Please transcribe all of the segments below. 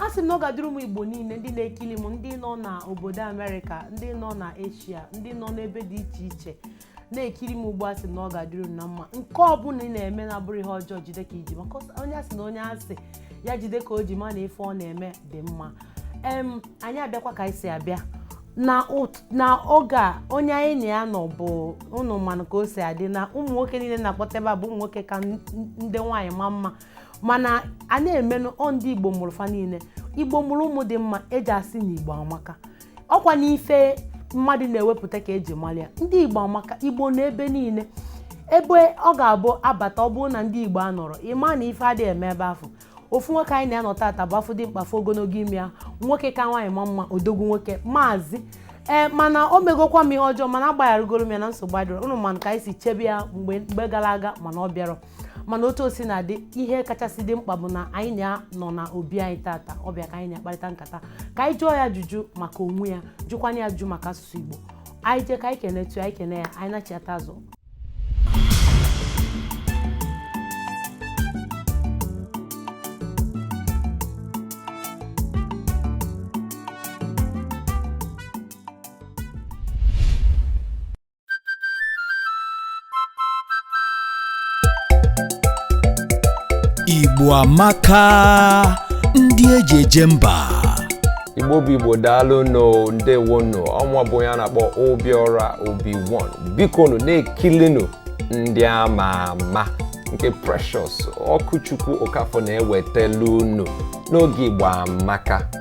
a sị m na ọ ga-adịrị ụmụ igbo niile ndị na-ekiri m ndị nọ na obodo amerịka ndị nọ na eshia ndị nọ n'ebe dị iche iche na-ekiri m ugbu a sị na ọ ga-adịrị unu na mma nke ọ bụla ị na-eme na-abụrọ ihe ọjọọ jide ka i ji maka onye a sị na onye a sị ya jide ka o ji ma na ife ọ na-eme dị mma em anyị abịakwa ka anyị si abịa na ụt- na oge a onye anyị na ya nọ bụ ụnụ manụ ka o si adị na ụmụ nwoke niile na-akpọta ebe a bụ ụmụ nwoke ka n- n- ndị nwaanyị ma mma mana a na-emenụ ọ ndị igbo mụrụ fa niile igbo mụrụ ụmụ dị mma e ji asị na igbo amaka ọ kwa n'ife mmadụ na-ewepụta ka e ji mara ya ndị igbo amaka igbo n'ebe niile ebe ọ ga-abụ a bata ọ bụrụ na ndị igbo anọrọ ị ma na ife adịghị eme ebe afụ ofu nwoke anyị na ya nọ tata bụ a fụ dimkpa a fụ ogologo imi ya nwoke ka nwaanyị ma mma odogwu nwoke maazị ee mana o megokwa m ihe ọjọọ mana agbagharagoro m ya na nsogbu adịrọ ụnụ manụ ka anyị si chebe ya mgbe mgbe gara aga mana ọ bịarọ mana otu o sina dị ihe kachasị dị mkpa bụ na anyị na ya nọ na obi anyị tata ọ bịa ka anyị na-akparịta nkata ka anyị jụọ ya ajụjụ maka onwe ya jụkwanye ya ajụjụ maka asụsụ Igbo anyị jee ka anyị kenetụ anyị kene ya anyị nachiata azụ Igbo amaka ndị eji eje mba igbo bụ igbo daalụ nụ ndewonụ ọnwa bụ onye a na-akpọ obiọra obiwon bikonụ na-ekilinụ ndị ama ama nke precious ọkụchukwu okafọ na-ewetelu unu n'oge igbo amaka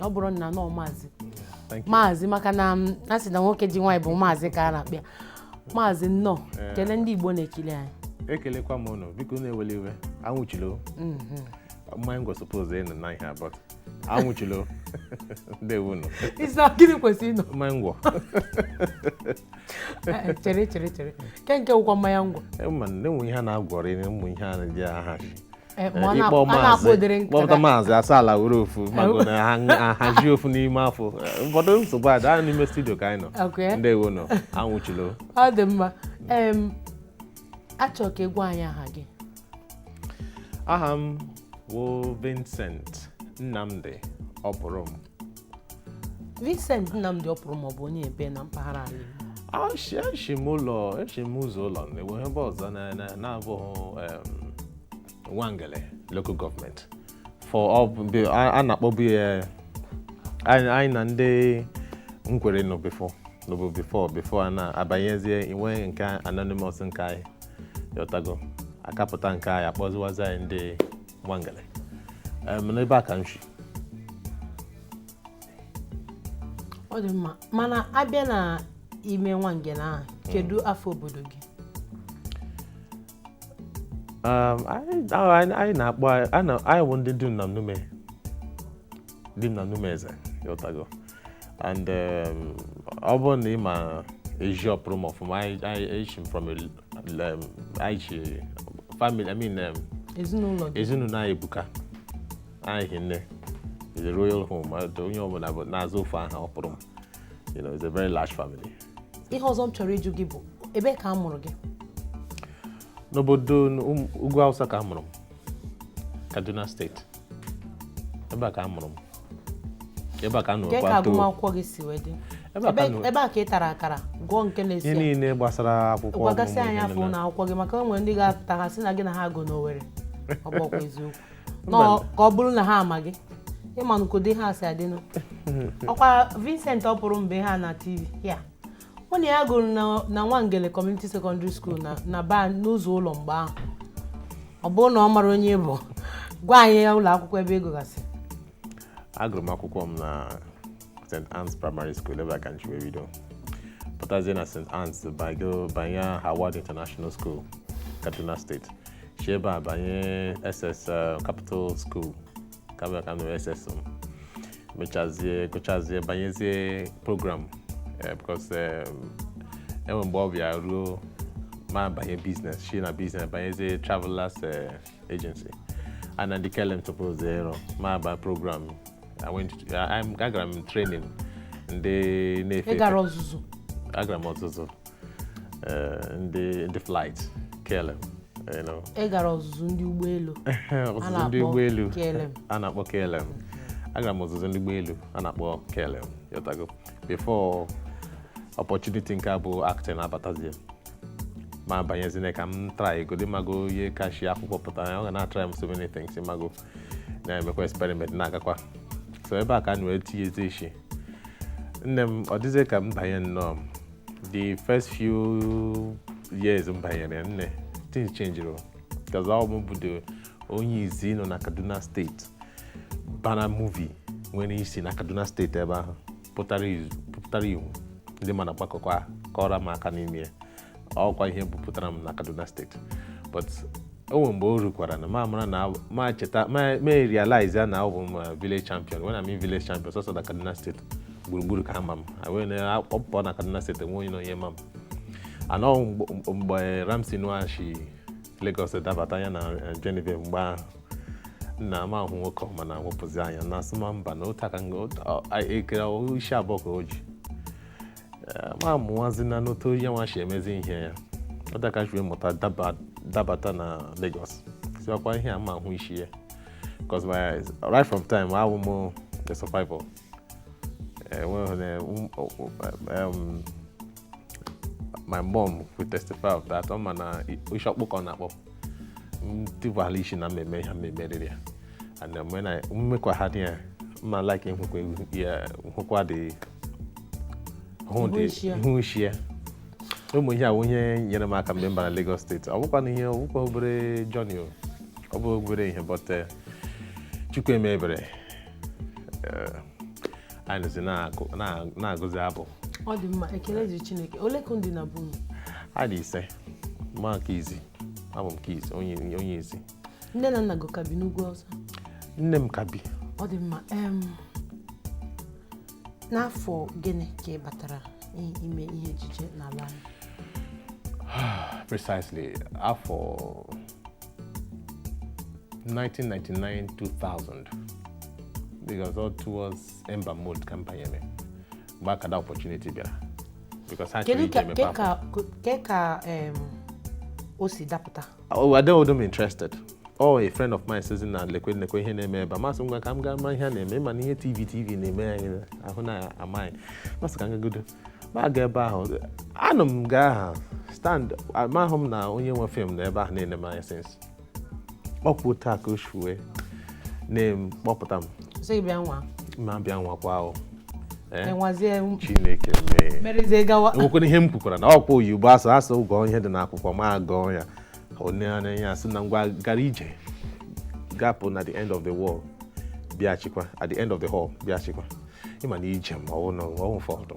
Opurum nna nnọọ maazị maazị maka na um, a sị na nwoke ji nwaanyị bụ maazị ka a na-akpọ ya maazị nnọọ eh. kelee ndị Igbo na-ekiri anyị ekelekwa m ụnụ bikonụ ewele iwe anwụchilo mm-hmm. mmanya ngwọ suppose ịnọ na ihe abụọ anwụchilo ndewo nụ ị sị gịnị kwesịrị ịnọ mmanya ngwọ eh, chere chere chere kee nke wụkwa mmanya ngwọ eh, ma na-enwe ihe a na-agwọrị ụmụ ihe a na-eji aha Eh, eh, ma ọ na- ịkpọ a na-akpọ ụdịrị maazị nke kpọpụta ga- maazị asaa ala were ofu mago na ha ahazi ofu n'ime afọ Eh, ụfọdụ nsogbu ada anyị n'ime studio ka anyị nọ Okay. ndewo nụ anwụchilo ọ dị mma em a chọ ka ị gwa anyị aha gị aha m wụ vincent nnamdi opurum Vincent Nnamdi Opurum ọ bụ onye ebee na mpaghara ala Igbo Ashi ashi m ụlọ eshi m ụzọ ụlọ enweghị ebe ọzọ na- na- na-abụghị em, Nwangele local government for ọ bụ- be- a a na-akpọbu ya anyị anyị na ndị Nkwerre nọ before nọbu before before a na-abanyezie inwe nke anonymous nke anyị yọtago a kapụta nke anyị a kpọziwazi anyị ndị Nwangele n'ebe a ka m shi ọ dị mma mana a bịa na ime Nwangele ahụ hmm. kedu afa obodo gị anyị na-akpọ anyị bụ ndị Dim na Nume Dim na Nume eze ị ghọtago and um, ọ bụrụ na ị ma ezi Opurum ọfụma anyị- anyị eji m from a l- um, anyị ji family i mean um, ezinụlọ gị ezinụlọ anyị ebuka anyị hi nne is a royal home ma dị onye ọbụla bụ na-aza ofu aha Opurum you know it's a very large family ihe ọzọ m chọrọ ịjụ gị bụ ebe ka a mụrụ gị n'obodo ugwu awụsa ka a mụrụ m kaduna steeti ebe a ka a mụrụ m ebe a ka a nụrụ ka agụmakwụkwọ gị si wee dị ebee ka ị tara akara gụọ nke nursery ihe niile gbasara akwụkwọ gwagasị anyị afa ụnọ akwụkwọ gị maka o nwere ndị ga-apụta ha sị na gị na ha agụ n'Owerri ọ bụkwa eziokwu ka ọ bụrụ na ha ama gị ị manụ ka ọ dị ha si adịnụ ọkwa Vincent Opurum bụ ihe a na TV a mụ na ya gụrụ na- na nwangele community secondary school na na Abba n'ụzọ ụlọ mgbe ahụ ọ bụrụ na ọ mara onye ị bụ gwa anyị ya ụlọ akwụkwọ ebe ị gụgasị agụrụ m akwụkwọ m na st anne's primary school ebe a ka m shi wee bido pụtazie na st anne's bago banye howard international school kaduna steeti shi ebe a banye ss uh, capital school ka m ka m nọrọ ss m mechazie gụchazie banyezie program eh, because eh, o nwe mgbe ọ bịa ruo m abanye biznes shi na biznes banyezie travelers eh, agency na ndị KLM tupu zero m aba program I went to- I- I'm- agara m training ndị na-efe efe. gara ọzụzụ agara m ọzụzụ eh, ndị ndị flight KLM you know. ị gara ọzụzụ ndị ụgbọelu ọzụzụ ndị ụgbọelu KLM. a na-akpọ KLM agara m ọzụzụ ndị ụgbọelu a na-akpọ KLM ị ghọtago before opportunity nke a bụ acting abatazie m abanyezie ka m trygodi mago onye ka shi akwụkwọ pụtara ya ọ ga na-atry so many things mago na-emekwa experiment na-agakwa so ebe a ka anyị wee tinyezi ishi nne m ọ dịzie ka m banye nnọọ m the first few years m banyere nne things changed because ọ wụ m bụ the onye izi nọ na Kaduna steeti bara movie nwere isi na Kaduna steeti ebe ahụ pụtara ihu ndị ma m agbakọkwa kụọrọ m aka n'ime ọkwa ihe bupụtara m na Kaduna steeti but o nwere mgbe o rukwara na ma mara na ma cheta ma realize ya na abụ m uh, village champion when I mean village champion sọsọ na Kaduna State gburugburu ka a ma m wee na-akpọpụta na Kaduna State enwe onye na onye ma m anọ mgbe Ramsey Nouah si Lagos dabata ya na uh, Genevieve mgbe ahụ na m ahụ nwoke ọma na wepụzi anya na asị m mba na otu aka e kere isi abụọ ka o ji ma amụwazi na n'otu onye nwa si emezi ihe ya ọ dakachiwe mụta dabata na Lagos sị ọ kwa ihe a m ahụ isi ya because right from time awụ m the survivor my mom will testify of that ọ ma na isi ọkpụkpụ na-akpọ m tibala isi na m eme ihe m emeriri ya and um, when I m mekwa ha dị ya mma like m hụkwa ya m hụkwa dị hụ dị hụ isi ya ụmụ ihe a wụ ihe nyere m aka mgbe m bara Lagos State ọ bụkwa na ihe ọ bụkwa obere journey o ọ bụ obere ihe but eh, Chukwu emee ebere eh, anyị nọzi na-agụzi abụ ọ dị mma ekele dịrị Chineke ole ka unu dị na be unu anyị dị ise ma nke izi abụ m nke izi onye onye izi nne na nna gị ka bi n'ugwu ọ sọ nne m ka bi ọ dị mma em, n'afọ gịnị ka ị batara i- ime ihe ejije n'ala anyị precisely afọ 1999 2000 because ọ towards ember month ka m banyere mgbe a ka that opportunity bịara because ha chọrọ kedu ije ka mepe ke akwụkwọ ka ke ka em, o si dapụta Oh, I don't even interested. ọ a friend of mine sị m na lekwe lekwe ihe na-eme ebe a m asị ngwa ka m gaa mara ihe a na-eme ị ma na ihe tv tv na-eme anyị ahụ na amaghị m asị ka m gagodu m aga ebe ahụ anọ m nga ahụ stand amahụ m na onye nwe film nọ ebe ahụ na-ene m anya since ọ kwa otu a ka o si wee nee m kpọpụta m sị gị bịa nwaa m abịa nwakwa ahụ Eh? enwazie chineke mee merezie gawa enwekwara ihe m kwukwara na ọkwa oyibo asụ asụ gụọ ihe dị n'akwụkwọ ma gụọ ya o nee anya ya asị na ngwa gara ije gapụ na the end of the wall bịachikwa at the end of the hall bịachikwa ị ma na ije m ọ wụ na ọ wụ ụfọdụ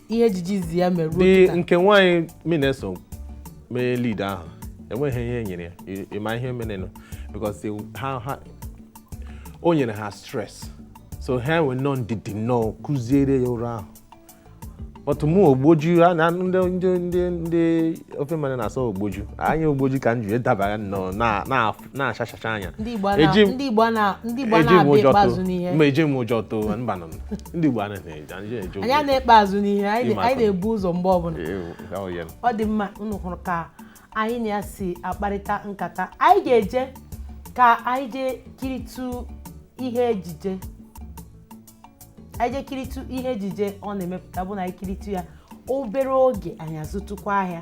ihe ejije izi ya mere ruo dị kịta. nke nwaanyị mụ na ya so mee lead ahụ enweghị ihe e nyere ya Ị- ị ma ihe merenụ because they- ha ha o nyere ha stress so ha wee nọ ndidi nọ kuziere ya role ahụ but mụ ogboju a na ndị ndị ndị ndị ofe mmanụ na-asị ogboju anyị ogboju ka m ji dabara nnọọ na na na-achachacha anya ndị Igbo a na- Eji m- ndị Igbo a na- ndị Igbo a eji m na-abịa ụjọ ikpe azụ too n'ihe mba eji m ụjọ too mba nọ m. ndị Igbo anaghị eji anyị eji anyị anaghị ekpe azụ n'ihe anyị na-ebu ụzọ mgbe ọbụla ọ dị mma unu hụrụ ka anyị na ya si akparịta nkata anyị ga-eje ka anyị jee kiritụ ihe ejije anyị jee kiritụ ihe ejije ọ na-emepụta bụ na anyị kiritụ ya obere oge anyị azụtụkwa ahịa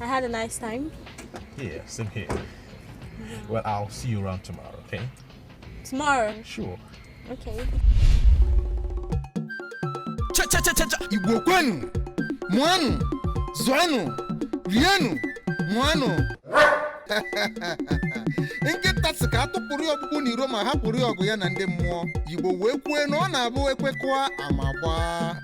I had a nice time. Yeah, same here. Yeah. Well, I'll see you around tomorrow, okay? Tomorrow? Sure. Okay. Cha cha cha cha cha! Igbo kwenu! Mụanụ! Zụanụ! Rienu! Ṅụanụ! nkịta sị ka a tụpụrụ ya ọkpụkpụ n'iro ma hapụrụ ya ọgụ ya na ndị mmụọ Igbo wee kwue na ọ na-abụ ekwekọa ama gbaa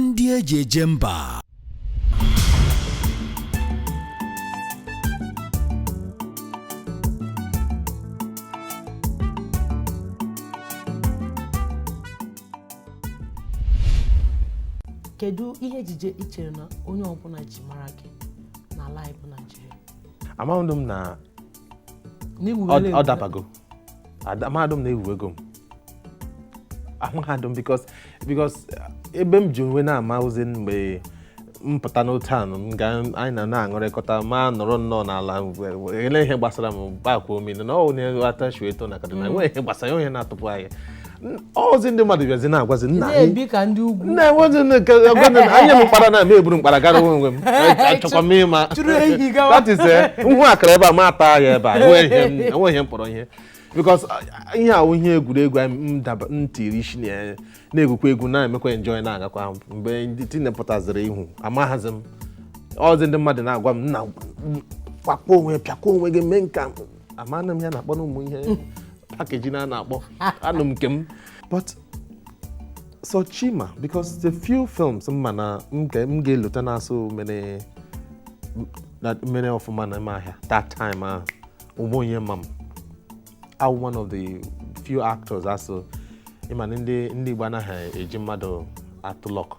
ndị eji eje mba kedu ihe ejije i chere na onye ọbụla ji mara gị n'ala anyị bụ Naịjirịa amaghị m na ọ dabago amahadụ m na ewuwego m amahadụ m because because ebe m ji wee na-ama ọzi mgbe m pụta n'otu anụ m ga anyị na na-aṅụrịkọta ma nọrọ nnọọ n'ala ele ihe gbasara m gbakwuo mmiri na ọ na-atachu eto na kaduna enweghị ihe gbasara onye na-atụpụ anyị ọzi ndị mmadụ bịazi na-agwazi nna anyị nna enwezi anyị m mkpara na eme eburu mkpara gara onwe m achọkwa m ịma that is eh, m hụ akara ebe a m ata ya ebe a enweghị ihe m kpọrọ ihe because uh, ihe ahụ ihe egwuregwu m tiri isi na ya na-egwukwa egwu na-emekwa enjoy na-agakwa mgbe ndị tinepụtaziri ihu amaghazi m ọzi ndị mmadụ na-agwa m nna kpakọọ onwe pịakwa onwe gị mee nka amanụ m ihe a na-akpọ na ụmụ ihe packaging a na-akpọ anọ m nke m but sọ Chi ma because the few films m ma na m ga- m ga-elota na a sị mere na- mere ọfụma n'ime ahịa that time ahụ onwe onye ma m I'm one of the few actors ha sị ịma na ndị ndị Igbo anaghị eji mmadụ atụ luck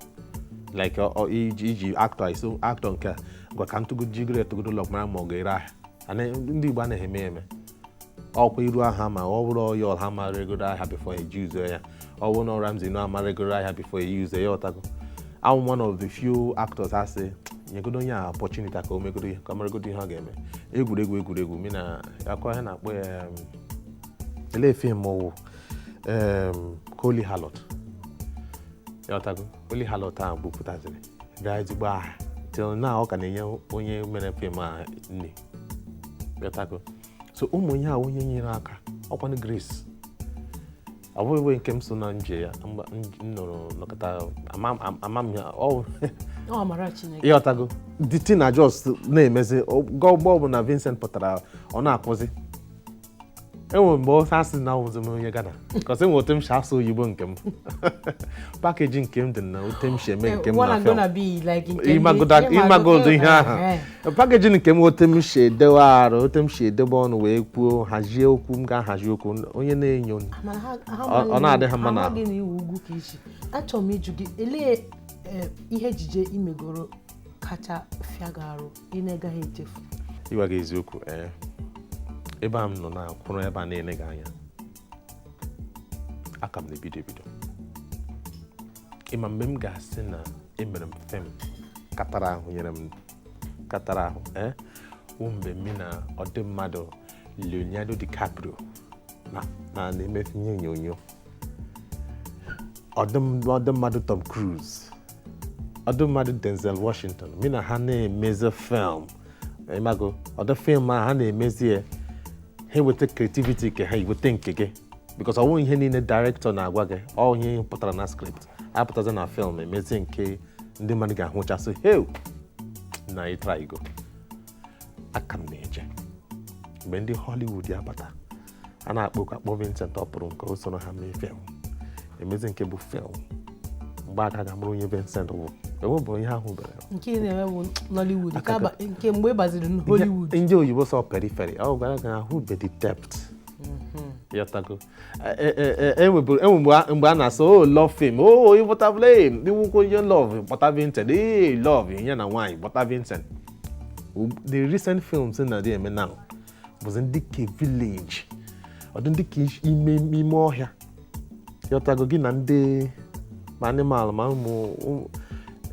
like ọ- ọ- iji iji actor iso actor nke a ngwa ka m tụgo jigodo ya tụgodo luck mara ma ọ ga-ere ahịa ndị Igbo anaghị eme eme ọkwa iru a ha ma ọ bụrụ onye ọha ma regoro ahịa before e use ya ọ bụrụ na Ramsey Nouah a ma regoro ahịa before e use ya ịghọtago I'm one of the few actors ha sị nyegodo onye a opportunity ka o megodo ihe ka ọ maragodo ihe ọ ga-eme egwuregwu egwuregwu m na-akọ ihe a na-akpọ ya ele film wụ Holy Harlot ịghọtago Holy Harlot ahụ bupụtaziri bịa ezigbo aha till now ọ ka na-enye onye mere film a nne ịghọtago so ụmụ ihe a onye nyere aka ọkwanụ grace ọ bụghị nke m so na nje ya m nụrụ nọkọta ama m ya ịghọtago the thing na just na-emezi ga ugbu a bụ na Vincent pụtara ọ na-akwụzi enwere mgbe ofe asị na ọwụzi m onye Ghana because enwe otu m si asụ oyibo nke m package nke m dị na otu m si eme eh, nke m na film ịmagodo ihe ahụ eh, eh. package nke m otu m si edewe arụ otu m si edebe ọnụ wee kwuo hazie okwu m ga-ahazi okwu onye na-anụ ọ na-adị ha mma na achọrọ m ịjụ gị elee ihe ejije imegoro kacha fịa gị arụ ị na-agaghị echefu ịgwa gị eziokwu ee eh, ebe a m nọ na-akwụrụ ebe a na-ele gị anya a ka m na-ebido ebido ịma mgbe m ga-asị na emere m film katara ahụ nyere m katara ahụ ee eh, wụ mgbe m na ụdị mmadụ Leonardo DiCaprio na na-eme ihe onyonyo ụdị mmadụ Tom Cruise ụdị mmadụ Denzel Washington mụ na ha na-emezi film ịmago ụdị film a ha na-emezi ya ha eweta creativity nke ha i weta nke gị because ọwụ ihe niile director na-agwa gị ọwụ ihe pụtara na script apụtazi na film emezi nke ndị mmadụ ga-ahụchasị heu na ị trygo a ka m na-eje mgbe ndị Hollywood ya-abata a na-akpọ oku akpọ Vincent Opurum ka o soro ha mee film emezi nke bụ film mgbe ahụ ka a ga-amara onye Vincent bụ ewe bụ ihe ahụ bere nke ị na-eme bụ Nollywood nke aba- nke mgbe ị gbaziri n- Hollywood ndị oyibo sọ periphery ọ gwara gị na ahụbe the depth ịghọtago enweburu enwe mgbe a- mgbe a na-asị ọ love film o ịbọtabụla iwukwo onye love kpọta Vincent ee love ihe na nwaanyị kpọta Vincent Ug- the recent films na dị eme now bụzi ndị ke village ụdị ndị ke ime ime ọhịa ịghọtago gị na ndị ma animal ma ụmụ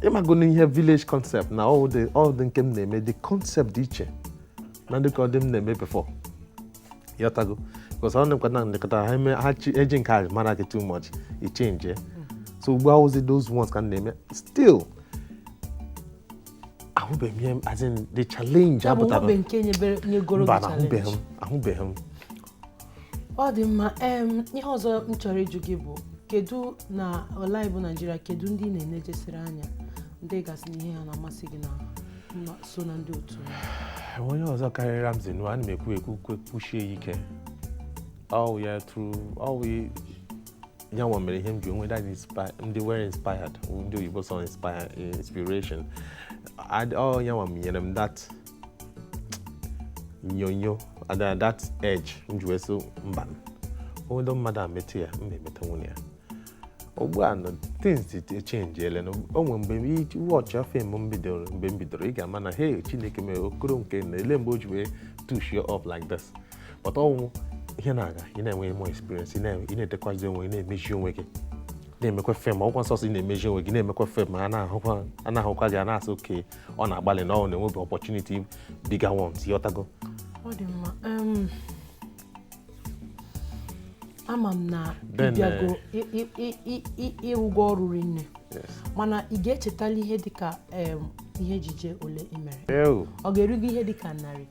ịmago na ihe village concept na all the nke m na-eme the concept dị iche na ndị ke ụdị m na-eme before ịghọtago because ọ na-ekweta na nlekọta ha eme ha eji nke a mara gị too much ị change so ugbu a ọwụzi those ones ka m na-eme still ahụbeghị m ihe as in the challenge ya bụ apụtara enwebe nke nyebere nyegoro mba gị na ahụbeghị challenge m ahụbeghị m ọ dị mma em ihe ọzọ m chọrọ ịjụ gị bụ kedu na Nollywood Naịjirịa kedu ndị ị na-enejesịrị anya ndị ị ga-asị na ihe ha na-amasị gị na na- so na ndị otu ha? enwe onye ọzọ karịrị Ramsey Nouah ana m ekwu ekwu kwe kwusie ya ike ọwụ ya true ọwụ ya nwa mere ihe m ji nwee that inspire ndị were inspired ndị oyibo sị inspire inspiration ọ ya nwa nyere m that nyonyo ada that edge m ji wee sị mba o nwedị mmadụ a metụ ya m emeta nwunye ya ugbu a nọ things echenjiele na onwe mgbe watch film mgbe m bidoro ị ga-ama na hey chineke mere okoro nke na ele mgbe o ji wee tushie up like this but ọ wụ ihe na-aga ị na-enwe more experience ị na-edekwazi onwe ị na-emezi onwe gị na-emekwa film ọkwa sọsọ ị na-emezi onwe gị na-emekwa film a na-ahụkwa gị a na-asị okay ọ na-agbalị na ọ na-enwebe opportunity bigger ones ị ghọtago ọ dị mma ama m na ịbịago ịrụgo ọrụ rinne mana ị ga-echetala ihe dịka ihe ejije ole ị mere ọ ga-erugo ihe dịka narị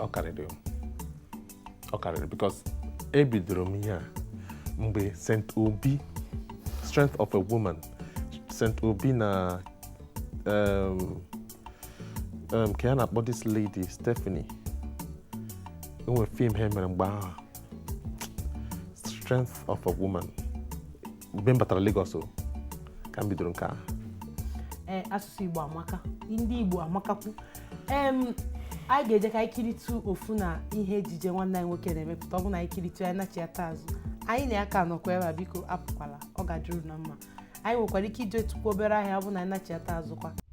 ọ karịrị ọ karịrị because ebidoro m ihe a mgbe St. Obi strength of a woman St. Obi na um, um, kee ihe a na-akpọ this lady Stephanie enwe film ha mere mgbe ahụ strength of a woman mgbe m batara Lagos o, ka m bidoro nke a ee asụsụ igbo amaka ndị igbo amakakwu em anyị ga-eje ka anyị kiritu ofu na ihe ejije nwanne anyị nwoke na-emepụta ọ bụ na anyị kiritu anyị nachiata azụ anyị na ya ka nọkwa ebe a biko apụkwala ọ ga-adịru unu mma anyị nwekwara ike ijetukwu obere ahịa ọ bụ na anyị nachiata azụkwa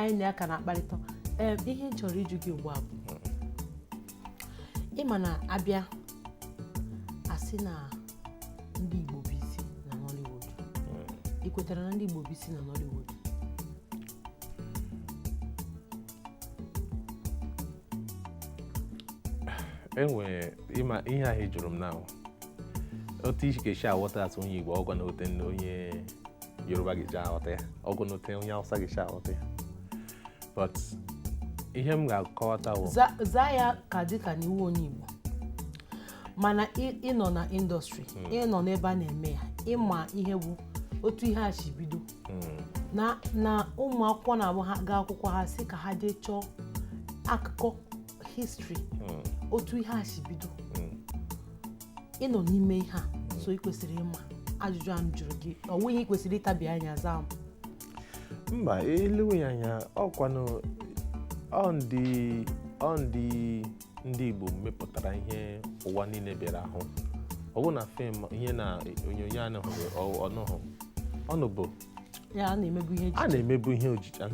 anyị na ya ka na-akparịta ee ihe m chọrọ ịjụ gị ugbu a bụ ị ma na a bịa a sị na ndị Igbo bụ isi na Nollywood ị kwetara na ndị Igbo bụ isi na Nollywood enwere ị ma ihe ahụ ị jụrụ m na otu ị si ga-esi aghọta atụ onye Igbo ọ wụghị otu onye Yoruba ga-eji aghọta ya ọ wụghị otu onye Hausa ga-esi aghọta ya but ihe m ga-akọwata bụ zaa ya ka dịka na ị wụ onye Igbo mana ị nọ na industry hmm. ị nọ n'ebe a na-eme ya ị ma ihe bụ otu ihe a si bido na na ụmụ akwụkwọ na-abụ ha gaa akwụkwọ ha sị ka ha jee chọọ akụkọ history otu ihe a si bido ị nọ n'ime ihe a so ị kwesịrị ịma ajụjụ a m jụrụ gị ọ wụghị ihe ị kwesịrị ịtabi anya zaa m mba e lewe ya anya ọkwanụ ọ ndị ọ ndị ndị Igbo mepụtara ihe ụwa niile bịara ahụ ọ bụ na film ihe na onyonyo anụghị ọnụhụ ọnụ bụ a na-emebu ihe ejije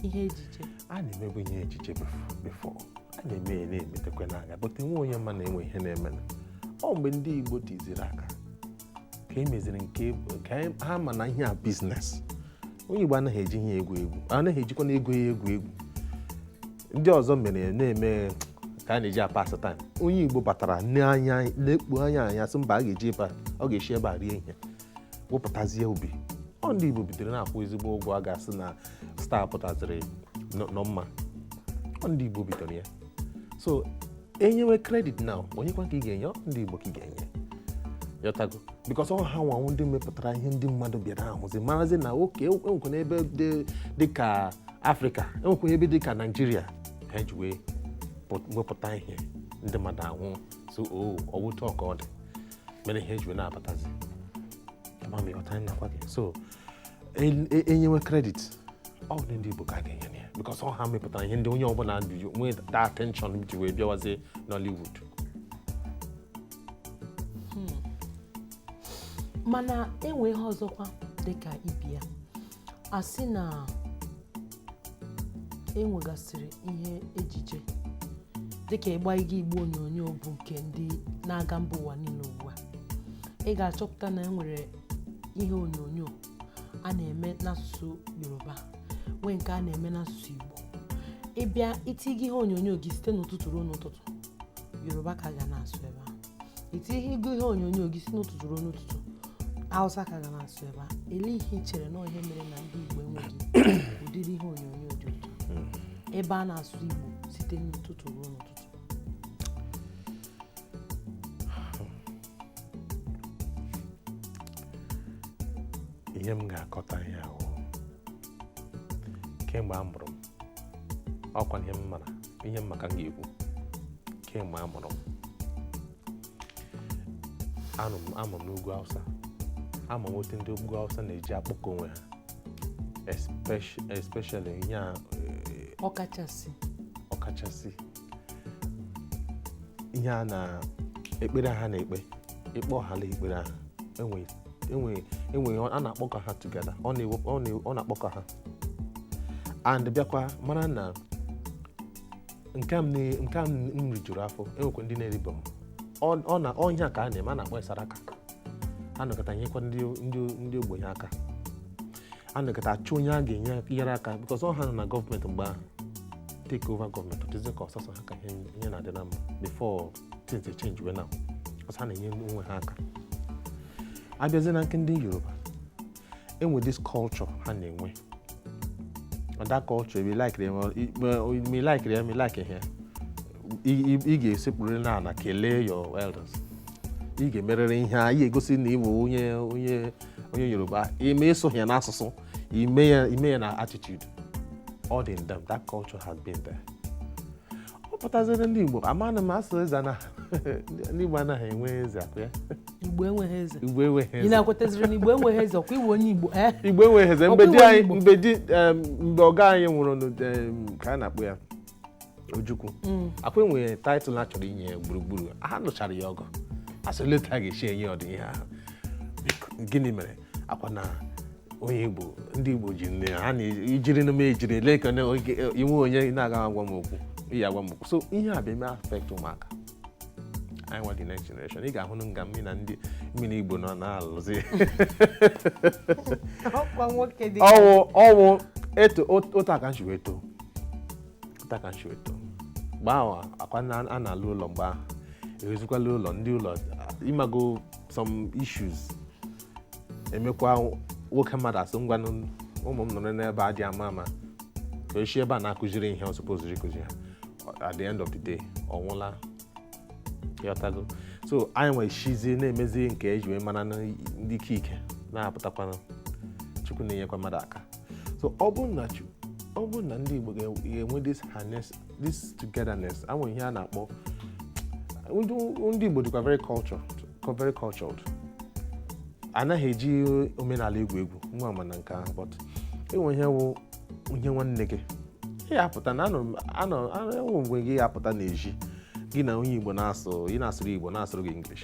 ihe ejije a na-emebu ihe ejije before a na-eme ya na-emetekwa n'anya but enweghị onye ma na enwe ihe na-eme ọ mgbe ndị Igbo tiziri aka ka e meziri nke ka anyị- ha ma na ihe a business onye igbo anaghị eji ihe egwu egwu anaghị ejikwa na ego ya egwu egwu ndị ọzọ mere ya na-eme ka a na-eji apass time onye igbo batara na ya lekpuo ya anya sị mba a ga-eji ebe a ọ ga-esi ebe a rie ihe wepụtazie obi ọ ndị igbo bidoro na-akwụ ezigbo ụgwọ a ga-asị na star pụtaziri nọ nọ mma ọ ndị igbo bidoro ya so enyewe credit now onyekwa ka ị ga-enye ndị Igbo ka ị ga-enye ị ghọtago because ọ ha nwa wụ ndị mepụtara ihe ndị mmadụ bịara ahụzi marazi na okay enwekwa ebe dị ka afrịka enwekwa ebe dị ka Nigeria ha ji wee wepụta ihe ndị mmadụ ahụ so ọ wụ otu a ka ọ dị mere ihe eji wee na-abatazi ama m ị ghọta nakwa gị so enyewe credit ọ bụ ndị Igbo ka a ga-enye na ya because ọ ha mepụtara ihe ndị onye ọbụla ji nwee that attention ji wee bịawazie Nollywood hmm. mana enwe ihe ọzọkwa dịka ịbịa asị na e nwegasịrị ihe ejije dịka ịgba ịga igbe onyonyo bụ nke ndị na-aga mba ụwa niile ugbu a ị ga-achọpụta na e nwere ihe onyonyo a na-eme n'asụsụ yoruba nwee nke a na-eme n'asụsụ igbo ịbịa itinye ihe onyonyo gị site n'ụtụtụ ruo n'ụtụtụ yoruba ka a ga na-asụ ebe a itinye igbe ihe onyonyo gị si n'ụtụtụ ruo n'ụtụtụ awụsa ka a ga na-asụ ebe a elee ihe i chere na ihe mere na ndị igbo enweghị ụdịrị ihe onyonyo dị otu ahụ ebe a na-asụ igbo site n'ụtụtụ ruo n'ụtụtụ ihe m ga-akọta ihe ahụ kemgbe a mụrụ m ọkwa ihe m mara ihe m ma ka m ga-ekwu kemgbe a mụrụ m a mụrụ m n'ugwu awụsa ama m otu ndị ugwu awụsa na-eji akpọkọ onwe ha especially ihe a eh, ọkachasị ọkachasị ihe a na ekpere ha na-ekpe ịkpọ Allah ekpere ha enweghị enweghị a na-akpọkọ ha together ọ na-akpọkọ ha and bịakwa mara na nke a m na- nke a m rijuru afọ enwekwa ndị na-eribe m Ọ- ọ ihe a ka a na-eme a na-akpọ saraka a nọkọta nyekwa ndị ndị ndị ogbenye aka a nọkọta achọ onye a ga-enye nyere aka because ọ ha nọ na gọọmenti mgbe ahụ take over gọọmenti ọ dịzi ka ọ sọsọ ha ka ihe ihe na-adị na mma before things dey change well now ọ sọ ha na-enye onwe ha aka abịazie na nke ndị yoruba enwe this culture ha na-enwe that culture ebe laikiri eme laikiri eme laikiri ya ị ga-esekpuru n'ala kelee your elders ị ga-emerịrị ihe a ị ga-egosi na ị bụ onye onye onye yoruba ime ị sụghị ya n'asụsụ i mee ya i mee ya na attitude all in them that culture has been there ọ pụtaziri ndị Igbo amanụ m asụ eze na ndị Igbo anaghị enwe eze akụ ya Igbo enweghị eze Igbo enweghị eze ị na-akwetaziri na Igbo enweghị eze ọkwa ị wụ onye Igbo eh? Igbo enweghị eze mgbe di anyị mgbe di mgbe ọga anyị nwụrụ ka a na-akpọ ya Ojukwu mm. akwa enwere title a chọrọ inye ya gburugburu ha nụchara ya ọgụ asị later ga-esi enye ụdị ihe ahụ gịnị mere akwa na onye igbo ndị igbo ji nne ha na-ejiri n'ume ejiri ele ka inwe onye na-aga agwa m okwu iyi agwa m okwu so ihe a bịa eme affect ụmụaka anyị nwa the next generation ị ga-ahụ nga mmiri na ndị mmiri igbo nọ na-alụzi ọ wụ ọ wụ eto otu a ka anyị si wee too otu a ka anyị si wee too mgbe ahụ akwa a na-ala ụlọ mgbe ahụ ewezikwala ụlọ ndị ụlọ ịmago some issues emekwa nwoke mmadụ asị ngwanụ ụmụ m nọrọ n'ebe a dị ama ama ka echi ebe a na-akụziri ihe ọ supposed ịkụzi ha at the end of the day ọ nwụla ị ghọtago so anyị nwere chizi na-emezi nke eji wee mara ndị ike ike na-apụtakwanụ chukwu na-enyekwa mmadụ aka so ọ bụrụ na ọ bụrụ na ndị Igbo ga-enwe this this togetherness enwe ihe a na-akpọ ndị Igbo dịkwa very cultured very cultured anaghị eji omenala egwu egwu nwa ama na nke ahụ but enwe ihe wụ ihe nwanne gị ya apụta na anọ enwe mgbe gị apụta n'ezi gị na onye Igbo na-asụ ị na-asụrụ Igbo na-asụrụ gị English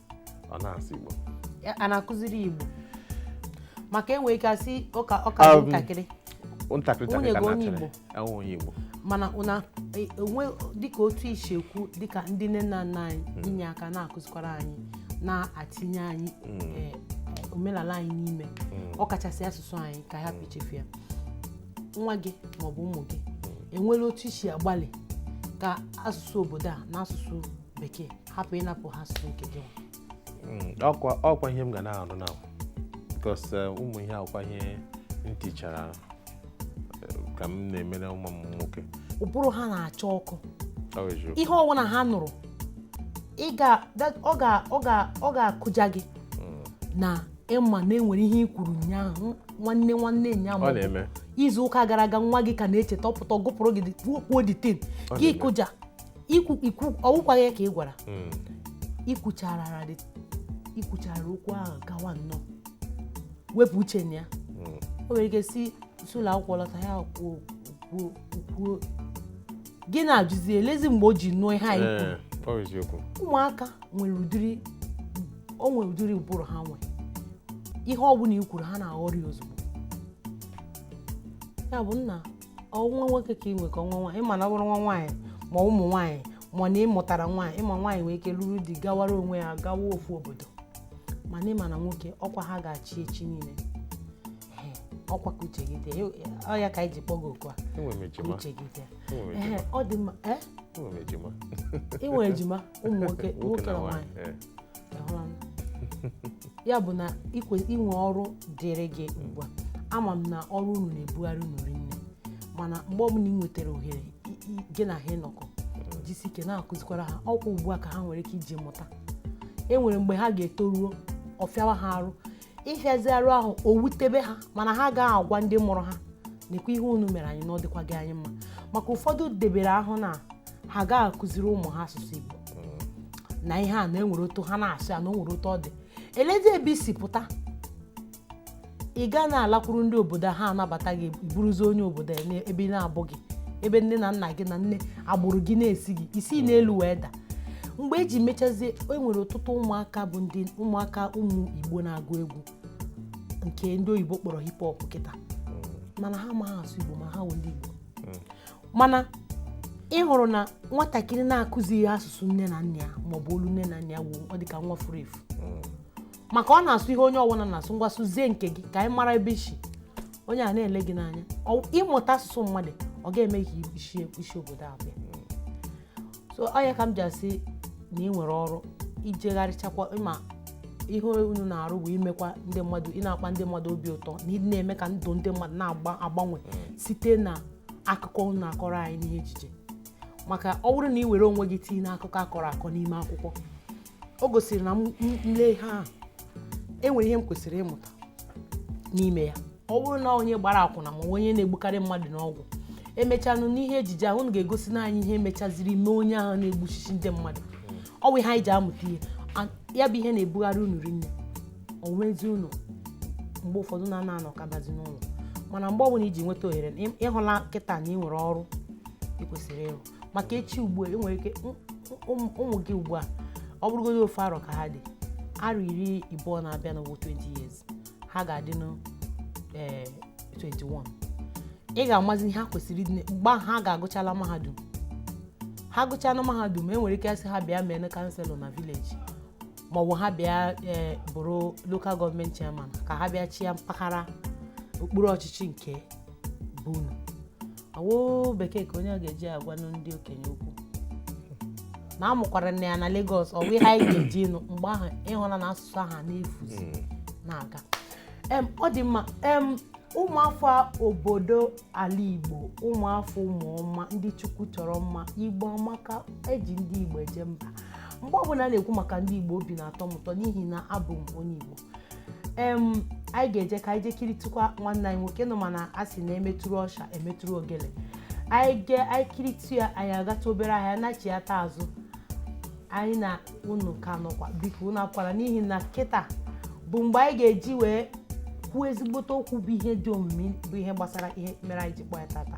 ọ na-asụ Igbo a na-akụziri Igbo maka enwere ike asị ọ ka ọ ka um, ntakịrị ntakịrị nwunye gị onye Igbo onye Igbo mana ọ na e, enwe dịka otu i si ekwu dịka ndị nne na nna anyị hmm. inye aka na-akụzikwara anyị na-atinye anyị hmm. e, omenala anyị n'ime hmm. ọ kachasị asụsụ anyị ka hapụ ichefu ya nwa gị maọbụ ụmụ gị enwere otu i si agbalị ka asụsụ obodo a na asụsụ bekee hapụ ịnapụ ha asụsụ nke gị hmm, ọkwa ọkwa ihe m ga na-arụ na because eh, ụmụ ihe akwụkwọ ihe m tichara eh, ka m na-emere ụmụ m nwoke ụbụrụ ha na-acha ọkụ ihe ọbụla ha nụrụ ọ ga-akụja gị hmm. na ị ma na e nwere ihe i kwuru ụnyaahụ nwanne nwanne ụnyaa ma izu ụka gara aga nwa gị ka na-echeta ọ pụta ọ gụpụrụ gị kwuo the thing gị kụja ikwu ikwu ọ wụkwaghị ya ka ị gwara mm. i kwuchara i kwuchara okwu ahụ gawa nnọọ wepụ uche na ya mm. o nwere ike si si ụlọ akwụkwọ lọta ya kwuo kwuo kwuo gị na-ajụzi elezi mgbe o ji nụọ ihe anyị eh, kwuru ụmụaka nwere ụdịrị o nwere ụdịrị ụbụrụ ha nwee ihe ọ bụla i kwuru ha na-aghọrị ozugbo ya bụ nna ọ wụ nwa nwoke ka ị nwere ka ọ nwa nwaanyị ị ma na ọ bụrụ nwa nwaanyị ma ụmụ nwaanyị ma na ị mụtara nwaanyị ị ma nwaanyị nwere ike lụrụ di gawara onwe ya gawa ofu obodo mana ị ma na nwoke ọkwa ha ga-achị echi niile ọkwa ka uche gị dị ọ ya ka anyị ji kpọgo oku a uche gị dị ọ dị mma ị nwere ejima ụmụ nwoke nwoke na nwaanyị eh. ya bụ na i nwe ọrụ dịrị gị ugbu a ama m na ọrụ unu na-ebugharị unu rinne mana mgbe ọbụla ị nwetara ohere gị na ha ịnọkọ jisi ike na-akụzikwara ha ọkwa ugbu a ka ha nwere ike iji mụta e nwere mgbe ha ga-etoruo ọ fịawa ha arụ ịhịazi arụ ahụ o wutebe ha mana ha agaghị agwa ndị mụrụ ha nekwa ihe unu mere anyị na ọ dịkwaghị anyị mma maka ụfọdụ debere ahụ na ha agaghị akụziri ụmụ ha asụsụ Igbo na ihe a na e nwere otu ha na-asụ ya na o nwere otu ọ dị elezi ebe i si pụta ị gaa na-alakwuru ndị obodo ha anabata gị bụrụzi onye obodo ebe na-abụghị ebe nne na nna gị na nne agbụrụ gị na-esighị isi n'elu wee daa mgbe e ji mechazie e nwere ọtụtụ ụmụaka bụ ndị ụmụaka ụmụ igbo na-agụ egwu nke ndị oyibo kpọrọ hip hop kịta mana ha amaghị asụ igbo ma ha wụ ndị igbo mana ị hụrụ na nwatakịrị na-akụzighị asụsụ nne na nna ya maọbụ olu nne na nna ya wụ ọ dịka nwa furu efu maka ọ na-asụ ihe onye ọbụla na-asụ ngwa sụzie nke gị ka anyị mara ebe i si onye a na-ele gị n'anya Ọ- ịmụta asụsụ mmadụ ọ ga-eme ka i si i si obodo a bịa so ọ ya ka m ji asị na ị nwere ọrụ ijegharịchakwa ị ma ihe unu na-arụ bụ imekwa ndị mmadụ ị na-akpa ndị mmadụ obi ụtọ na ị na-eme ka ndụ ndị mmadụ na-agbanwe mm. site na akụkọ unu na-akọrọ anyị n'ihe ejije maka ọ bụrụ na ị were onwe gị tinye n'akụkọ a kọrọ akọ n'ime akwụkwọ o gosiri na m m- m lee ihe ahụ enwere ihe m kwesịrị ịmụta n'ime ya ọ bụrụ na onye gbara akwụna maọbụ onye na-egbukarị mmadụ n'ọgwụ emechanụ n'ihe ejije ahụ unu ga-egosinụ anyị ihe mechaziri mee onye ahụ na-egbuchichi ndị mmadụ ọ bụ ihe anyị ji amụta ihe A- ya bụ ihe na-ebugharị unu rinne onwezi unu mgbe ụfọdụ unu ana anọkabazi n'ụlọ mana mgbe ọbụla i ji nweta ohere na ị- ịhụla kịta na ị nwere ọrụ ị kwesịrị ịrụ maka echi ugbu a e nwere ike ụmụ gị ugbu a ọ bụrụgodị ofu arọ ka ha dị arọ iri ịbụọ na-abịanụ bụ 20 years ha ga-adịnụ 21 ị ga-amazi ihe ha kwesịrị ịdị mgbe ha ga-agụchala mahadum ha gụchala mahadum e nwere ike a sị ha bịa mee councillor na village maọbụ ha bịa e, bụrụ local government chairman ka ha bịa chịa mpaghara okpuru ọchịchị nke bụ awo bekee ka onye ga-eji agwanụ ndị okenye okwu na amụkwaranụ ya na Lagos ọ bụ ihe anyị ga-eji nụ mgbe ahụ ịhụla na asụsụ ahụ na-efuzi hmm. na-aga em ọ dị mma em ụmụafọ obodo ala Igbo ụmụafọ ụmụọma ndị Chukwu chọrọ mma Igbo amaka eji ndị Igbo eje mba mgbe ọbụla a na-ekwu maka ndị Igbo obi na-atọ m ụtọ n'ihi na abụ m onye Igbo em anyị ga-eje ka anyị je kiritụkwa nwanne anyị nwoke nọ mana a sị na emetụrụ ọsha emetụrụ ogele anyị ge anyị kiritụ ya anyị agatụ obere ahịa nachighata azụ anyị na unu ka nọkwa biko unu akwara n'ihi na kịta bụ mgbe anyị ga-eji wee kwuo ezigbote okwu bụ ihe dị omimi bụ ihe gbasara ihe mere anyị ji kpọ ya tata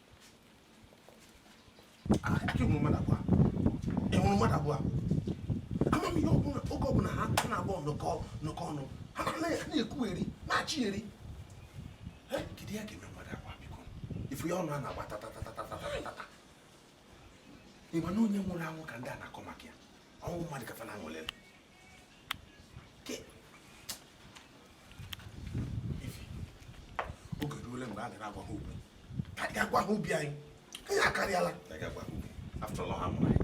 ịhụrụ mmadụ abụọ ama m ihe ọbụla oge ọbụla ha naabọ nọkọ nọkọ ọnụ ha na-ekwugheri na-achịgheri kedu ihe ga-eme mmadụ abụọ biko ifu ya ọnụ a na-agba tatatatatatatatata ịma na onye nwụrụ anwụ ka ndị a na-akọ maka ya ọnwụ mmadụ ka fa na-aṅụlele oge eruole mgbe a ga-agwa ha okwu ka anyị gaa gwa ha obi anyị anyị akarịala after all ha mụrụ anyị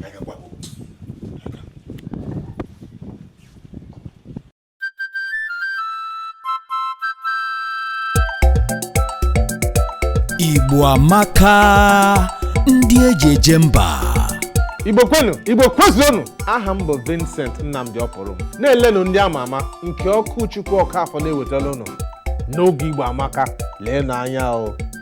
ka anyị gaa gwa ha okwu Igbo amaka ndị eji eje mba Igbo kwenu Igbo kwezuonu aha m bụ Vincent Nnamdị Ọpụrụm na-elenụ ndị ama ama nke Okwuchukwu Ọkafọ na-ewetara unu n'oge Igbo amaka leenụ anya o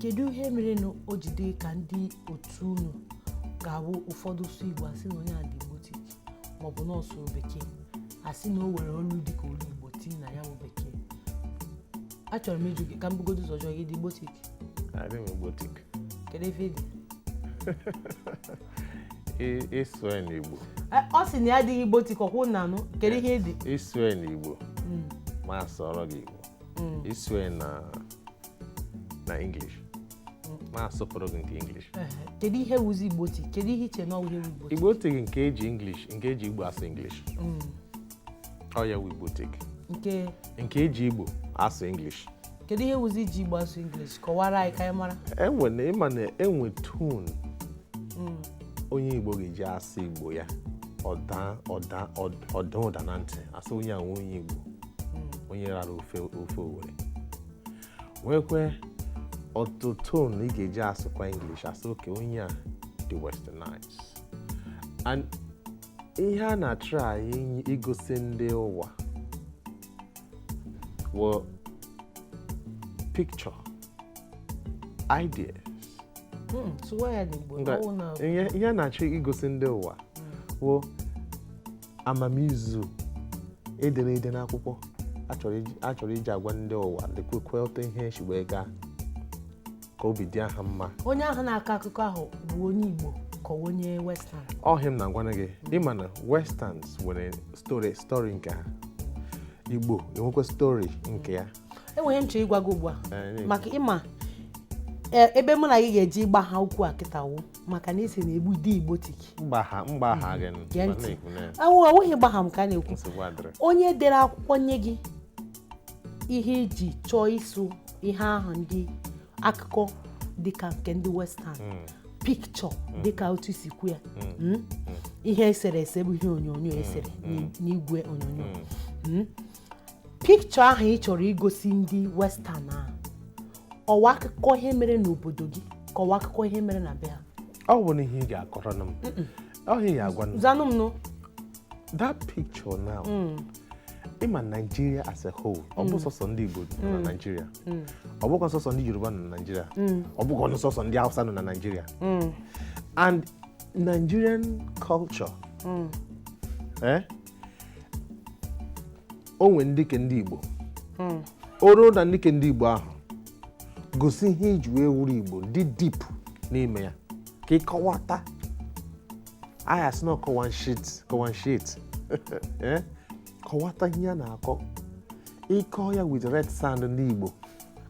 kedu ihe mere na o ji dị ka ndị otu unu ga-awụ ụfọdụ sụ igbo asị na onye a dị igbotic maọbụ na ọ sụrụ bekee asị na o were olu dị ka olu igbo tii na ya bụ bekee achọrọ m ịjụ gị ka m bugodo ụzọ jụọ gị ị dị igbotic adị m igbotic kedu ihe ị dị Ị- ị sụọ ya n'igbo Eh, ọ sị na ya adịghị igbotic ọ kwa unu na-anụ kedu ihe ị dị ị sụọ ya n'igbo Mm. m asụọrọ gị igbo mm. ị sụọ na English m asụpụrụ gị nke English kedu ihe wụzi Igbotic kedu ihe i che na ọ wụ ihe Igbotic Igbotic nke eji English nke eji Igbo asụ English mm. ọ ya wụ Igbotic nke nke eji Igbo asụ English kedu ihe wụzi iji Igbo asụ English kọwaara anyị ka anyị mara enwe na ị ma na enwe tone mm. onye Igbo ga-eji asụ Igbo ya ọ daa ụda na ntị asị onye a wụ onye Igbo hmm. onye rara ofe Owere nwekwe otu tone ị ga-eji asụkwa English asị okay onye a dị westernized and ihe a na-try igosi ndị ụwa wụ picture ideas hmm, ihe a na-achọ igosi ndị ụwa hmm. wụ amamizu edere ede n'akwụkwọ a chọrọ iji agwa ndị ụwa lekwekwe otu ihe si wee gaa ka obi dị ha mma onye ahụ na-akọ akụkọ ahụ bụ onye Igbo ka onye western ọ ihe a m na-agwana gị ị ma na westerns nwere story nke ha Igbo enwekwa story nke ya enwe ihe m chọrọ ịgwa gị ugbu a eh, maka ị ma eh, ebe mụ na gị ga-eji ịgbagha okwu a kịta wụ maka na ị sị na Igbo dị igbotic mgbagha mgbagha gị nụ, Gee m ntị. na-ekwu na ya. awụ awụghị gbagha m ka a na-ekwu nsogbu adịrị onye dere akwụkwọ nye gị ihe i ji chọọ ịsụ ihe ahụ ndị akụkọ dịka nke ndị western Mm, picture dịka otu i si kwu ya mm, Mm? ihe eserese bụ ihe onyonyo esere n'i- n'igwe onyonyo mm. Mm? picture ahụ ị chọrọ igosi ndị western ahụ ọ wụ akụkọ ihe mere n'obodo gị ka ọ wụ akụkọ ihe mere na be ha ọ bụ na ihe ị ga-akọrọ m ọ ihe ị ga-agwa m zanụ m nụ that picture now ị ma Nigeria as a whole ọ bụ sọsọ ndị Igbo nọ na Nigeria ọ bụkwa sọsọ ndị Yoruba nọ na Nigeria ọ bụkwanụ sọsọ ndị Hausa nọ na Nigeria and Nigerian culture eh, o nwere ndị nke ndị Igbo hmm. ọ bụrụ na ndị nke ndị Igbo ahụ gosi ihe iji wee wụrụ Igbo dị deep n'ime ya ka ịkọwata ihe a sị na kọwa nshit kọwa nshit eh? kọwata ihe a na-akọ ịkọ ya with red sand ndị Igbo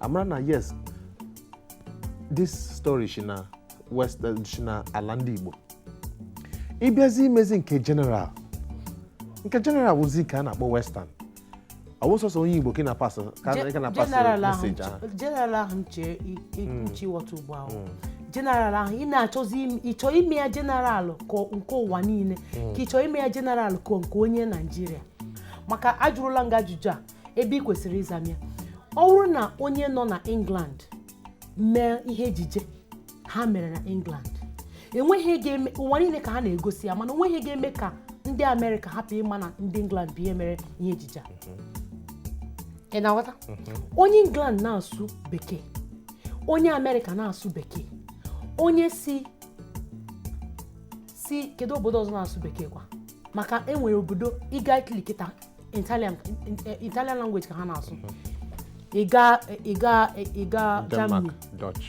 amara na yes this story shi na west eh, si na ala ndị igbo ịbịazi imezi nke general nke general wụzi nke a na-akpọ western ọ bụ sọsọ onye igbo ka ị na-apasị ka ị ka na-apasị General ahụ message ahụ nche- general ahụ nche ichiwọta ugbu ahụ general ahụ ị na-achọzi im- ị chọọ ime ya general ka ọ- nke ụwa niile ka ị chọọ ime ya general ka nke onye naijiria maka ajụrụla m gị ajụjụ a ebe ị kwesịrị ịza m ya ọ bụrụ na onye nọ na england mee ihe ejije ha mere na england enweghị ihe ga-eme ụwa niile ka ha na-egosi ya mana onweghị ihe ga-eme ka ndị amerịka hapụ ịma na ndị england bụ ihe mere ihe ejije a ị na-aghọta onye england na-asụ bekee onye amerịka na-asụ bekee onye si si kedu obodo ọzọ na-asụ bekee kwa maka enwere obodo ịga itali kịta Italian Italian language ka ha na-asụ ịga ịga ịga Germany Dutch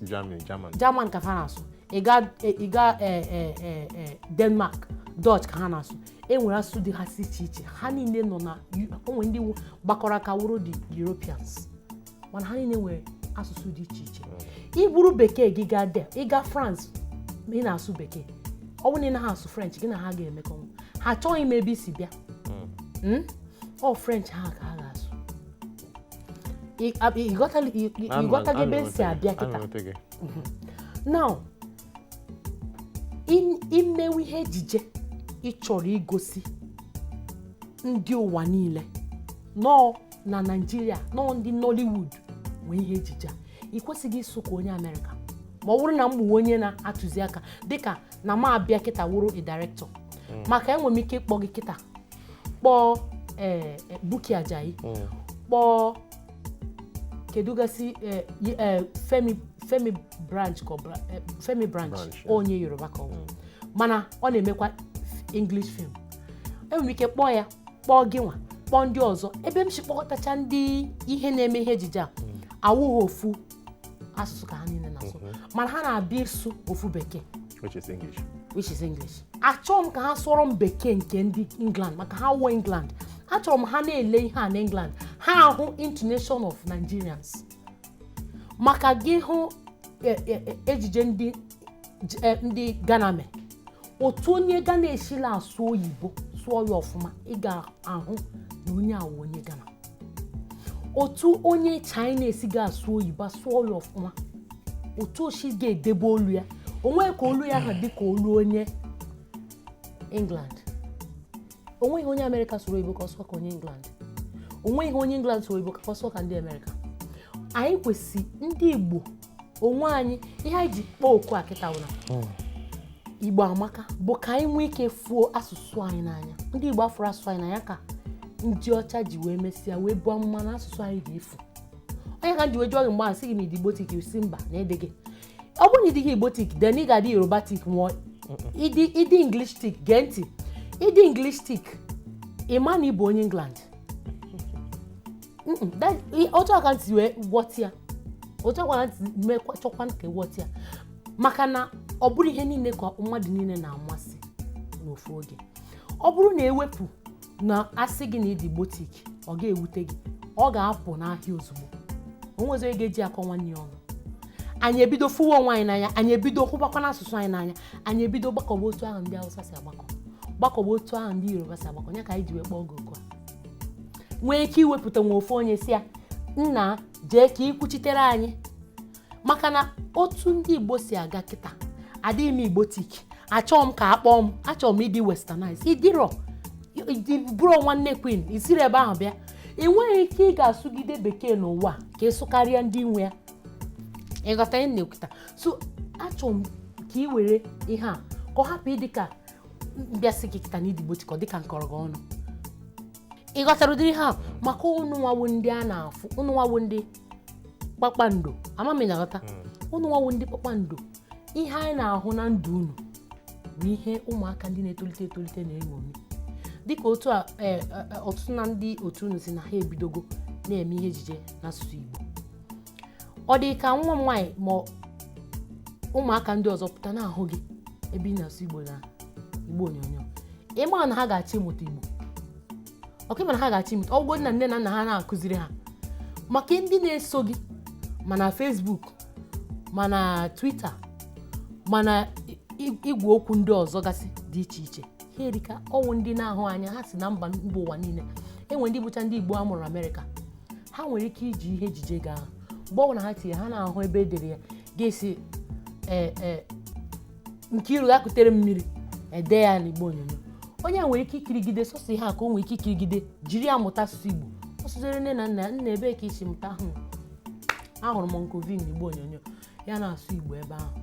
Germany German German ka ha na-asụ ịga ịga Denmark Dutch ka ha na-asụ e nwere asụsụ dị ha si iche iche ha niile nọ na onwe ndị gbakọrọ aka wụrụ the Europeans mana ha niile nwere asụsụ dị iche iche iburu bekee gị gaa there ịga France ma ị na-asụ bekee ọ bụrụ na ị naghị asụ French gị na ha ga-emekọ ha achọghị ịma ebe i si bịa Hmm? ọ French ha ka ha ga-asụ Ị- a- ị ghọtala- ị- ị- ị ghọtago ebe m si abịa kịta now im- imewe ihe ejije ị chọrọ igosi ndị ụwa niile na ọ na naijiria na ọ ndị nollywood nwe ihe ejije a ị kwesịghị ịsụ ka onye amerịka ma ọ bụrụ na m bụ onye na-atụzi aka dịka na m abịa kịta wụrụ a director maka enwere m ike ịkpọ gị kịta kpọọ ee buki ajayi kpọọ kedu gasị eh, y- eh, femi femi branch ka ọ bra- eh, femi branch Branch, yeah. onye yoruba ka ọ bụ mana ọ na-emekwa english film enwere m ike kpọọ ya kpọọ gị nwa kpọọ ndị ọzọ ebe m si kpọkọtacha ndị ihe na-eme ihe ejije a awụghị ofu asụsụ ka ha niile na-asụ mana ha na-abịa ịsụ ofu bekee which is English. which is English. Achọghị m ka ha sụọrọ m bekee nke ndị England maka ha awụghị England. Achọrọ m ha na-ele ihe a na England ha ahụ intonation of Nigerians. Maka gị hụ e- e- e- ejije ndị J- eh, ndị Ghana mee otu onye Ghana esila asụ oyibo sụọ ya ọfụma ị ga-ahụ na onye a wụ onye Ghana otu onye China esi ga-asụ oyibo sụọ ya ọfụma otu o si ga-edebe olu ya onwe ka olu ya ga-adị ka olu onye England onweghị onye amerịka sụrụ oyibo ka ọ sụọ ka onye england onweghị onye england sụrụ oyibo ka ọ sụọ ka ndị amerịka anyị kwesị ndị igbo onwe anyị ihe anyị ji kpọọ oku a kịta wụ na hmm. igbo amaka bụ ka anyị nwee ike fụọ asụsụ anyị n'anya ndị igbo afụrọ asụsụ anyị n'anya ka ndị ọcha ji wee mesịa wee buo amụma na asụsụ anyị ga-efu ọ ya ka m ji wee jụọ gị mgbe a sị gị na ịdị igbotic ị sị mba na ị dịghị ọ bụrụ na ị dịghị igbotic then ị ga-adị yorubatic ma ọ wụ ịdị ịdị englishtic gee ntị ịdị englishtic ịma na ịbụ onye england Mm-mm, that- i- otu a ka m si wee wọta ya otu a ka m si mekwa chọkwa ka ị wọta ya maka na ọ bụrọ ihe niile ka mmadụ niile na-amasị n'ofu oge ọ bụrụ na e wepụ na a sị gị na ịdị igbotic ọ ga-ewute gị ọ ga-apụ n'ahịa ozugbo onwezi onye ga-eji akọ nwanne ya ọnụ anyị ebido fụwa onwe anyị n'anya anyị ebido hụbakwanụ asụsụ anyị n'anya anyị ebido gbakọba otu ahụ ndị Hausa si agbakọ gbakọba otu ahụ ndị Yoruba si agbakọ ya ka anyị ji wee kpọọ gị oku a nwee ike iwepụta nwa ofu onye sị ya nna jee ka i kwuchitere anyị maka na otu ndị igbo si aga kịta adịghị m igbotic achọghị m ka a kpọọ m achọrọ m ịdị westernized ịdịrọ ịbụrọ nwanne queen isirọ ebe ahụ bịa ị nweghị ike ị ga-asụgide bekee n'ụwa ka ị sụkarịa ndị nwe ya ịghọta ihe m na-ekwuta so achọrọ m ka ị were ihe a ka ọ hapụ ịdị ka m bịa sị gị kịta na ịdị igbotic ọ dịka m kọrọ gị ọnụ ị ghọtara ụdịrị ha maka unu nwa wụ ndị a na-afụ unu nwa wụ ndị kpakpando ama m ị na-aghọta hmm. unu nwa wụ ndị kpakpando ihe anyị na-ahụ na ndụ unu bụ ihe ụmụaka ndị na-etolite etolite na-eṅomi dịka otu a e, e, e, ọtụtụ na ndị otu unu sị na ha ebidogo na-eme ihe ejije n'asụsụ Igbo ọ dị ka nwa m nwaanyị ma ụmụaka ndị ọzọ pụta na-ahụ gị ebe ị na-asụ Igbo na igbe onyonyo ịma na ha ga-achọ ịmụta Igbo ọ kwa ịma na ha ga-achọ ịmụta ọ wụgodi na nne na nna ha na-akụziri ha maka ndị na-eso gị ma na Facebook ma na Twitter ma na igwe okwu ndị ọzọ gasị dị iche iche ha erika ọ wụ ndị na-ahụ anya ha si na mba mba ụwa niile enwe ndị bụcha ndị Igbo a mụrụ Amerịka ha nwere ike iji ihe ejije gị ahụ mgbe ọbụla ha tinye ha na-ahụ ebe edere ya ga-esi ee eh, eh, Nkiru gaa kutere m mmiri ede ya n'igbe onyonyo onye nwere ike ikirigide sọsọ ihe a ka o nwere ike ikirigide jiri ya mụta asụsụ Igbo ọ sụziere nne na nna ya nna ebee ka i si mụta ahụ ahụrụ m Nkoli n'igbe onyonyo ya na-asụ Igbo ebe ahụ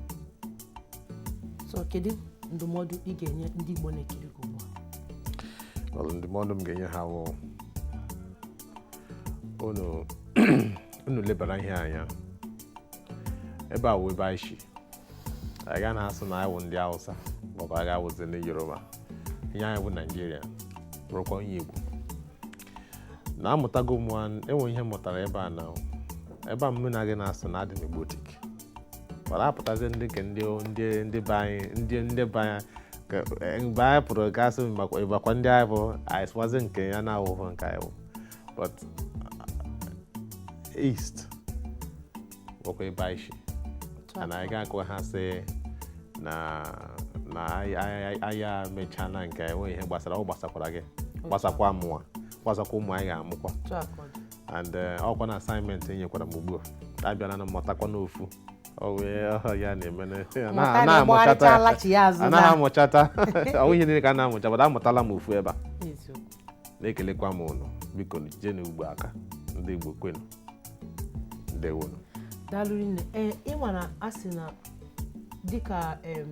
so kedu ndụmọdụ ị ga-enye ndị Igbo na-ekiri gị ugbu a Well, ndụmọdụ m ga-enye ha bụ unu unu lebara ihe anya ebe a wụ ebe anyị si anyị ga na-asụ na anyị wụ ndị Hausa maọbụ anyị ga-awụzi ndị Yoruba ihe anyị bụ Naijiria bụrụkwa onye Igbo na amụtago m e nwee ihe m mụtara ebe a na ebe a mụ na gị na-asụ na adị m Igbotik mana a pụtazi ndị nke ndị ndị ndị be anyị ndị ndị be anyị e, mgbe anyị pụrụ gasị ịbakwa ndị anyị bụ anyị sụwazi nke ya na-awụhụ nke anyị bụ but uh, east bụkwa ebe anyị si na anyị ga-agwa ha sị na na anyị emechala nke enweghị ihe gbasara ọ gbasakwara gị gbasakwa mụwa gbasakwa ụmụ anyị ga-amụkwa and eh, ọkwa na assignment e nyekwara m ugbu a abịala na mụtakwa n'ofu ya na-eme anaghị amụchata ọ wụ ihe niile ka a na-amụcha but amụtala m ofu ebe a na-ekelekwa m unu biko jienu Igbo aka ndị Igbo kwenu ndewonu daalụ nne ee ị nwara a sị na dịka em,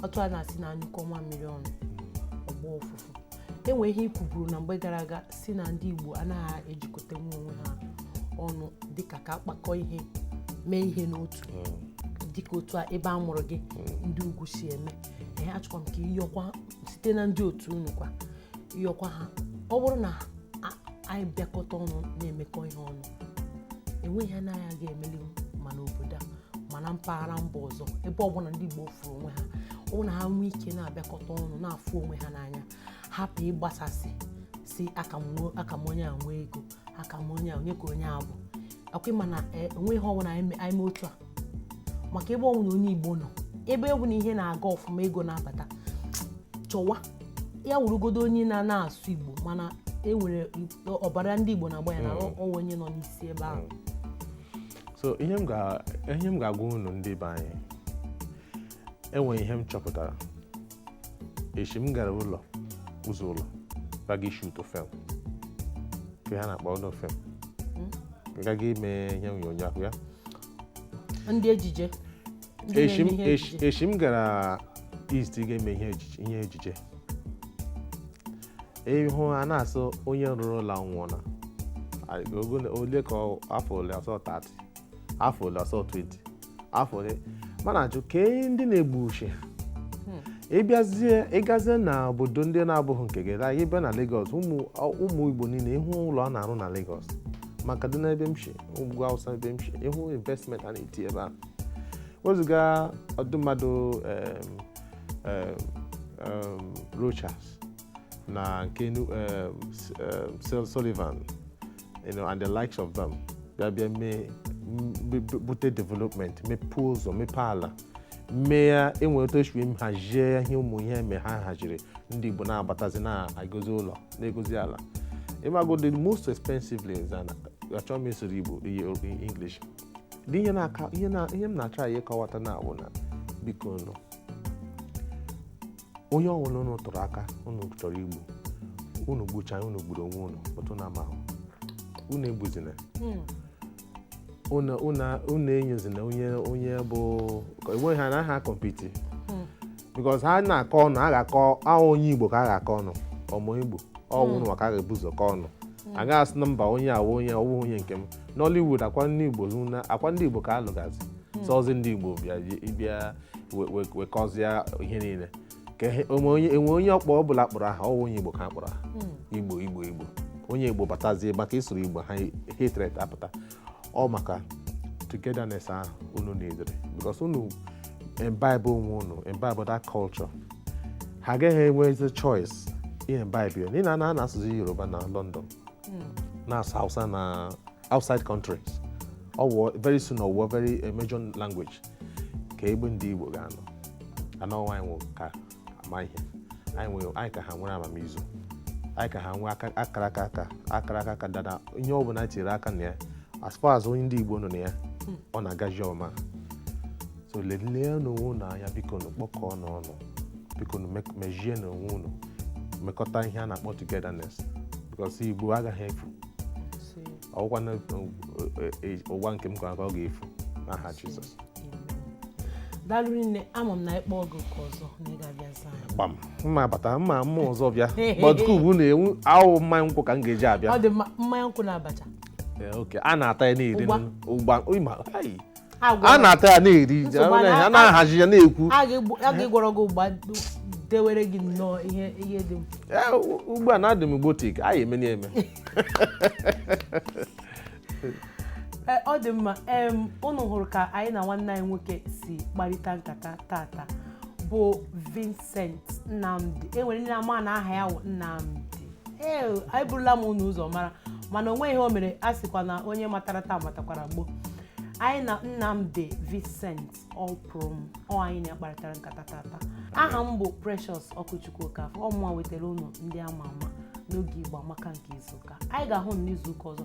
otu a na-asị na a nyụkọọ nwamịrị ọnụ ọ gbọọ ụfụfụ e nwee ihe i kwuburu na mgbe gara aga sị na ndị Igbo anaghị ejikọta nwa onwe ha ọnụ dịka ka a kpakọọ ihe mee ihe n'otu dịka otu a ebe a mụrụ gị ndị ugwu si eme ee achọkwa m ka ị yọkwa site na ndị otu unu kwa yọkwa ha ọ bụrụ na a- anyị bịakọta ọnụ na-emekọ ihe ọnụ enweghị ihe anyị ga-emelihu ma n'obodo a ma na mpaghara mba ọzọ ebe ọbụla ndị Igbo fụrụ onwe ha ọ bụrụ na ha nwee ike na-abịakọta ọnụ na-afụ onwe ha n'anya hapụ ịgbasasị sị aka m nwee- aka m onye a nwee ego aka m onye a onye ka onye a bụ ọkwa ị ma na e, o nwee ihe ọbụla anyị me- anyị mee otu a maka ebe ọwụna onye Igbo nọ ebe ọbụna ihe na-aga ọfụma ego na-abata chọwa ya wụrụgodu onye na na-asụ Igbo mana e nwere ọbara ndị Igbo na-agba ya na Mm. ọ wụ onye nọ n'isi ebe ahụ so ihe m ga- ihe m ga-agwa unu ndị be anyị e nwere ihe m chọpụtara echi m gara ụlọ ụzọ ụlọ gaga ịshoot film ka ha na-akpọ ụlọ film gaga ime ihe onyonyo ahụ ya ndị ejije ndị echi m- na-eme ihe echi- ejije. echi m gara east gaa eme ihe ejije- ihe ejije ị hụ a na-asị onye rụrụ ụlọ nwụọ na ole ka ọ- afọ ole ọ sị 30 afọ ole ọsọ 20 afọ ole mana a jụ kee ndị na-egbu uche hmm. ịbịazie ịgazie na obodo ndị na-abụghị nke gị gaa ịbịa na Lagos ụmụ Igbo niile ị hụ ụlọ a na-arụ na Lagos ma Kaduna ebe m si ugwu Awụsa ebe m si ị hụ investment a na-eti ebe a wezuga ụdị mmadụ Rochas na nke Sullivan you know, and the likes of them bịa bịa mee bute development mepee ụzọ mepee ala mee ya e nwere otu e si wee hazie ya ihe ụmụ ihe eme ha haziri ndị Igbo na-abatazi na-egozi ụlọ na-egozi ala ịmago the most expensively is an achọrọ m ịsụrụ Igbo English dị ihe m na-atry ịkọwata na-awụ na biko nụ onye ọbụla unu tụrụ aka unu chọrọ igbu unu gbuchaa unu gburu onwe unu otu na ama unu egbuzina hmm. unu enyezina onye onye bụ enweghị ha na ha compete hmm. because ha na-akọ ọnụ a ga-akọ ahụ onye igbo ka a ga-akọ ọnụ ụmụ igbo ọ wụ hmm. maka a ga-ebu ụzọ kọ ọnụ a gaghị asị na mba onye awụ onye ọwụ onye nke m Nollywood ọ kwa ndị igbo ọ kwa ndị igbo ka alụgazi sọzi ndị igbo bịa wekọzie ihe niile ka enwe onye ọkpọ ọ bụla kpọrọ aha ọwụ onye Igbo ka a kpọrọ aha hmm. Igbo Igbo Igbo onye Igbo batazie maka ịsụrụ Igbo ha hatred apụta ọ maka togetherness ahụ unu needịrị because unu imbibe onwe unu imbibe that culture ha agaghị enwezi choice imbibe ya n'ihi na a na-asụzi Yoruba na London hmm. na-asụ Hausa na outside countries ọwụọ very soon ọwụọ very eh, major language kee ebe ndị Igbo ga-anọ anọ anyị wụ ka ama ihe anyị nwere anyị ka ha nwere amamizu anyị ka ha nwee aka- akara aka aka akara aka aka dada ihe ọ bụla tinyere aka na ya as far as onye ndị Igbo nọ na ya ọ na-agaji ọma so leleenụ onwe unu anya biko nu kpọkọọnụ ọnụ biko nu mek- mejienụ onwe unu mekọta ihe a na-akpọ togetherness because Igbo agaghị efu ọ wụghịkwa n'ụwa nke m nwa ka ọ ga-efu n'aha Jizọs daalụ nne ama m na a kpọọ gị oku ọzọ na ị ga-abịa zaa ya gbam mma bata mma mma ọzọ bịa gbatuku ugwu na-enwu ahụ mmanya nkwụ ka m ga-eji abịa ọ dị mma mmanya nkwụ na abacha oke a na-ata ya na-eri ụgba ịma a na-ata ya na-eri a na-ahazi ya na-ekwu a ga-egwọrọ gị ụgba dewere gị nnọọ ihe ihe dị m ugbu a na-adị m gbotik a ya-emeni eme e, ọ dị mma unu hụrụ ka anyị na nwanne anyị nwoke si kparịta nkata tata bụ Vincent Nnamdi e nwere ndị na-amaghị na aha ya wụ Nnamdi ee anyị burula m unu ụzọ mara mana o nweghị ihe o mere a sịkwa na onye matara taa matakwara gboo anyị na Nnamdi Vincent Ọpụrụm ọ anyị na ya kparịtara nkata tata aha m bụ Precious Okwuchukwu Okafor ọ mụwa wetara unu ndị ama ama n'oge Igbo Amaka nke izuụka anyị ga-ahụ n'izuụka ọzọ